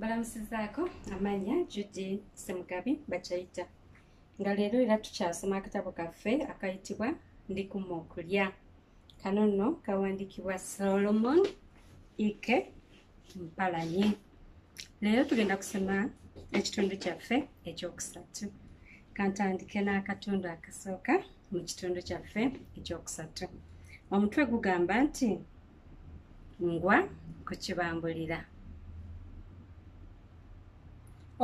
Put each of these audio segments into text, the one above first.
balamusizaako amanya judy semugabi bakyayita nga leero era tukyasoma akatabo kaffe akayitibwa ndi kuma okulya kano nno kawandiikibwa solomon ike mpalanyi leero tugenda kusoma ekitundu kyaffe ekyokusatu kantandike n'akatundu akasooka mu kitundu kyaffe ekyokusatu omutwe gugamba nti ngwa ku kibambulira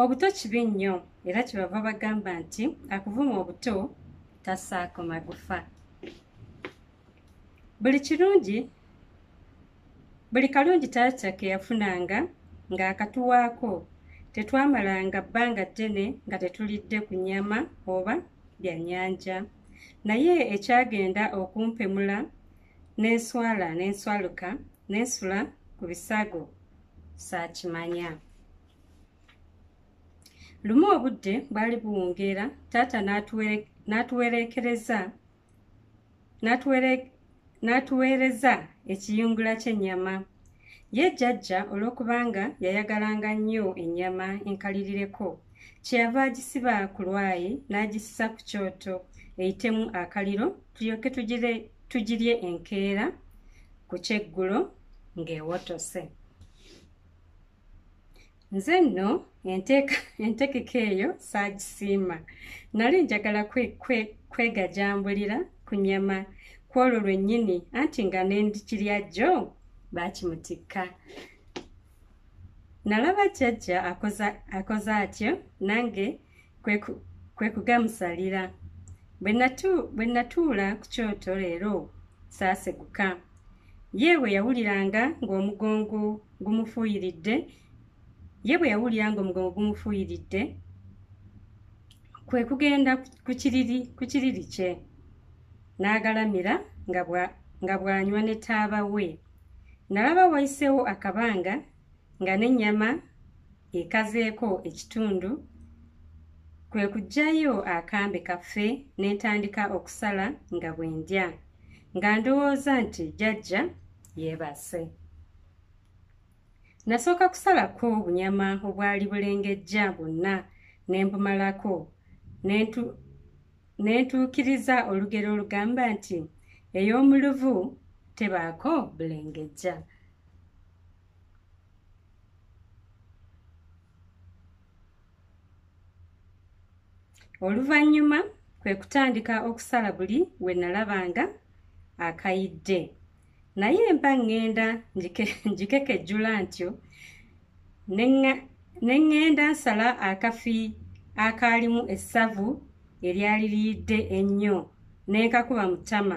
obuto kibi nnyo era kyebava bagamba nti akuvuma obuto tasaako magufa buli kirungi buli kalungi taata ke yafunanga ng'akatuwaako tetwamalanga bbanga ddene nga tetulidde ku nnyama oba byannyanja naye ekyagenda okumpemula n'enswala n'enswaluka n'ensula ku bisago saakimanya lumu obudde bwali buwungeera taata n'atuwereekereza n'atuweereza ekiyungula ky'ennyama ye jjajja olw'okubanga yayagalanga nnyo ennyama enkalirireko kyeyava agisiba ku lwayi n'agisisa ku kyoto eyitemu akaliro tulyoke tugirye enkeera ku kyeggulo ng'ewotose nze nno entegeka eyo saagisiima nali njagala kwegajambulira ku nyama kwolwo lwennyini anti nga nendikirya jjo baakimutikka nalaba jjajja akoze atyo nange kwe kugamusalira bwe natuula ku kyoto leero saaseguka ye bwe yawuliranga ng'omugongo gumufuuyiridde ye bwe yawulira ng'omugongo gumufuuyiridde kwe kugenda ku kiriri kye n'agalamira nga bw'anywa ne taaba we nalaba wayiseewo akabanga nga n'ennyama ekazeeko ekitundu kwe kuggyayo akambe kaffe ne ntandika okusala nga bwe ndya nga ndowooza nti jajja yeebase nasooka kusalako obunyama obwali bulengejja bwonna ne mbumalako ne ntuukiriza olugero olugamba nti ey'omuluvu tebaako bulengejja oluvannyuma kwe kutandika okusala buli we nalabanga akayidde naye mba ŋŋenda ngikekejjula ntyo ne ŋŋenda nsala akafi akaalimu essavu eryali liyidde ennyo ne nkakuba mu ttama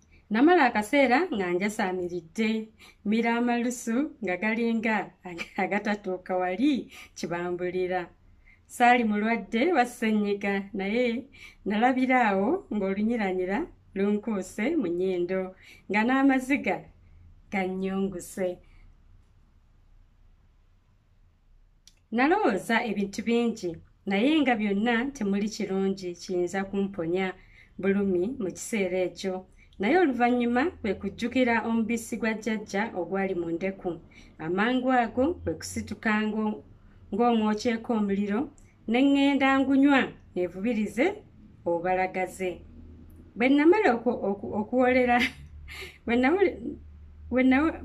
namala akaseera nga njasaamiridde mira amalusu nga galinga agatatuuka wali kibambulira saali mulwadde wassennyiga naye nalabira awo ng'olunyiranyira lunkuuse mu nnyindo nga n'amaziga gannyunguse nalowooza ebintu bingi naye nga byonna temuli kirungi kiyinza kumponya bulumi mu kiseera ekyo naye oluvannyuma kwe kujjukira omubisi gwa jjajja ogwali mu ndeku amangu ago kwe kusituka ng'omwokyeko omuliro ne ŋŋenda ngunywa nevubirize obalagaze bwe namala okuwoolera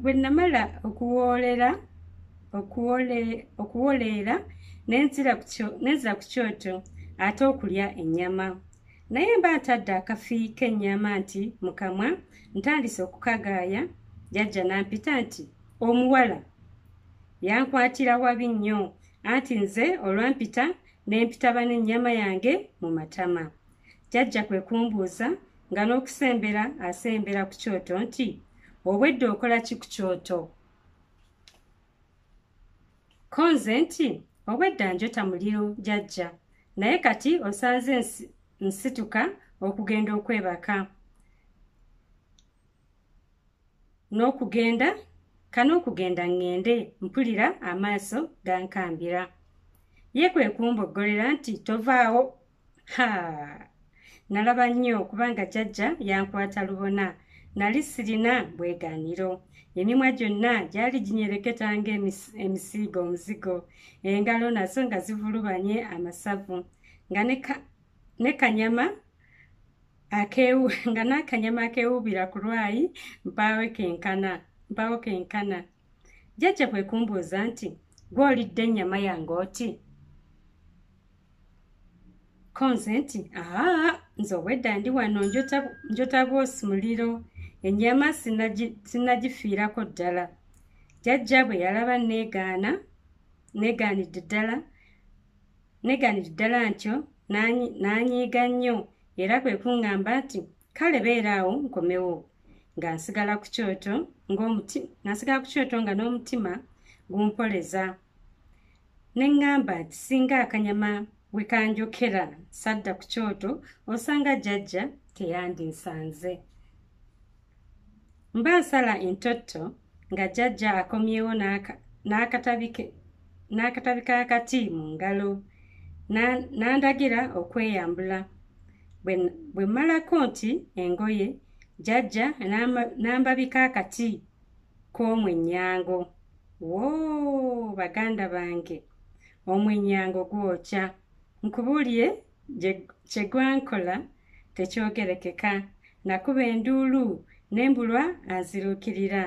bwe namala okuwoolera okuwoleera nenzira ku kyoto ate okulya ennyama naye mba ntadde akafi k'ennyama nti mu kamwa ntandise okukagaaya jajja nampita nti omuwala yankwatira wabi nnyo anti nze olwampita n'empita bane ennyama yange mu matama jajja kwe kumbuuza nga n'okusembera asembera ku kyoto nti obwedde okola ki ku kyoto ko nze nti obwedda njota muliro jajja naye kati osanze nsituka okugenda okwebaka n'okugenda kana okugenda ŋŋende mpulira amaaso gankambira ye kwe kumboggolera nti tovaawo ha nalaba nnyo kubanga jajja yankwata lubona nali sirina bwegaaniro emimwa gyonna gyali ginyereketa ng'emisiiga omuzigo engalo nazo nga zivulubanye amasavu nga ne kanyama akewu nga n'akanyama akewuubira ku lwayi mpaawe kenkana mpaawo kenkana jjajja kwe kumbuuza nti gwe olidde ennyama yange oti konze nti aa nze obwedda ndi wano njota bwosi muliro ennyama sinagifiirako ddala jjajja bwe yalaba negaana negaanidde ddala negaanidde ddala ntyo n'anyiiga nnyo Era kwe kuŋŋamba nti, Kale beera awo nkomewo. Nga nsigala ku kyoto, ng'omuti, nga nsigala ku kyoto nga n'omutima gumpoleza. Ne ŋŋamba nti singa akanyama we kanjokera sadda ku kyoto, osanga jjajja teyandinsanze. mba nsala entotto nga jjajja akomyewo n'akatabi k'akati mu ngalo n'andagira okweyambula bwe mmalako nti engoye jjajja n'ambabika akati k'omwennyango woo baganda bange omwennyango gwokya nkubuulire kyegwankola tekyogerekeka nakuba enduulu nembulwa anziruukirira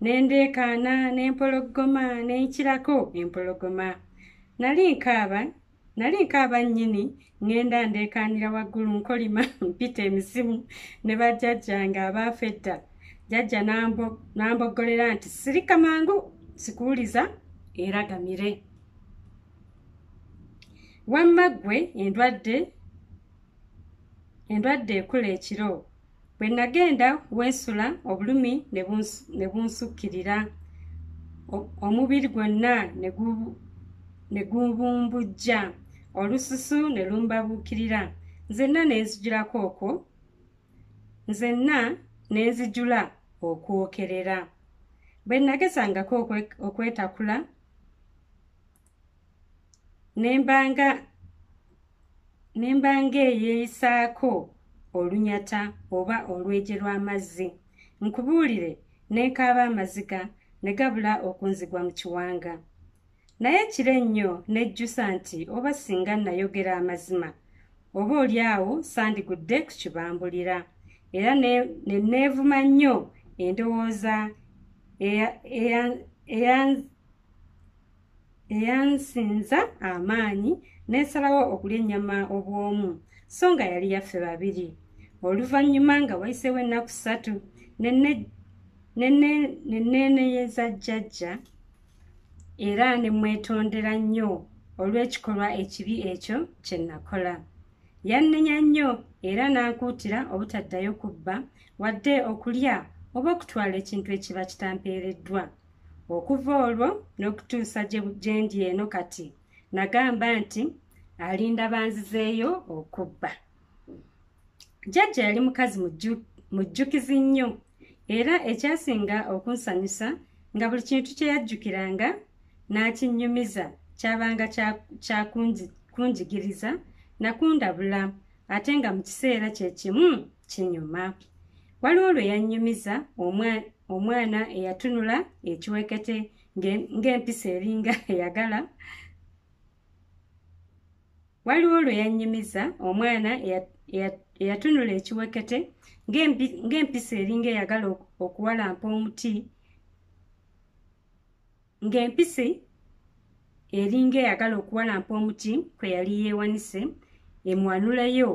nendeekaana nempologoma nenkirako empologoma nali nkaaba nali nkaaba nnyini ŋŋenda ndeekaanira waggulu nkolima mpita emizimu ne bajjajja nga abaafa edda jajja n'amboggolera nti sirika mangu sikuwuliza eragamire wamma ggwe endwadde endwadde ekula ekiro bwe nagenda weesula obulumi ne bunsukkirira omubiri gwonna ne gubumbujja olususu ne lumbabuukirira nzenna ne nzijulako okwo nzenna ne nzijula okwokerera bwe nagesangako okwetakula nembanga nembanga eyeeyisaako olunyata oba olweje lw'amazzi nkubuulire nenkaaba amaziga ne gabula okunzigwa mu kiwanga naye kiro ennyo nejjusa nti oba singa nayogera amazima oba oli awo sandigudde ku kibambulira era neneevuma nnyo endowooza eyansinza amaanyi n'esalawo okulya ennyama obw'omu so nga yali yaffe babiri oluvannyuma nga wayiseewo ennaku ssatu neneeneyeza jjajja era ne mwetondera nnyo olw'ekikolwa ekibi ekyo kye nakola yannenya nnyo era n'ankuutira obutaddayo kubba wadde okulya oba okutwala ekintu ekiba kitampeereddwa okuva olwo n'okutuusa gye ndi eno kati nagamba nti alinda banzizeeyo okubba jjajja yali mukazi mujjukizi nnyo era ekyasinga okunsanyusa nga buli kintu kye yajjukiranga n'akinnyumiza kyabanga kyakunjigiriza nakundabula ate nga mu kiseera kye kimu kinyuma waliwo lwe yannyumiza omwana eyatunula ekiwekete ng'empisa eringa eyagala waliwo lwe yannyumiza omwana eyatunula ekiwekete ng'empisa eringa eyagala okuwalampa omuti ng'empisi eringa eyagala okuwalampa omuti kwe yali yeewanise emuwanuleyo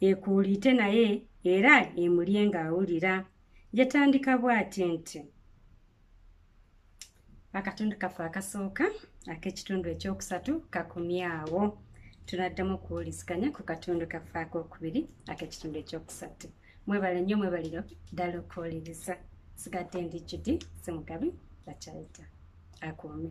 ekuuliite naye era emulye ng'awulira yatandika bw'ati nti akatundu kaffe akasooka ak'ekitundu ekyokusatu kakumyawo tunaddamu okuwuliziganya ku katundu kaffe ak'okubiri ak'ekitundu ekyokusatu mwebale nnyo mwebaliro ddala okuwuliriza sigadde ndi judi simugabi bakyayita akuume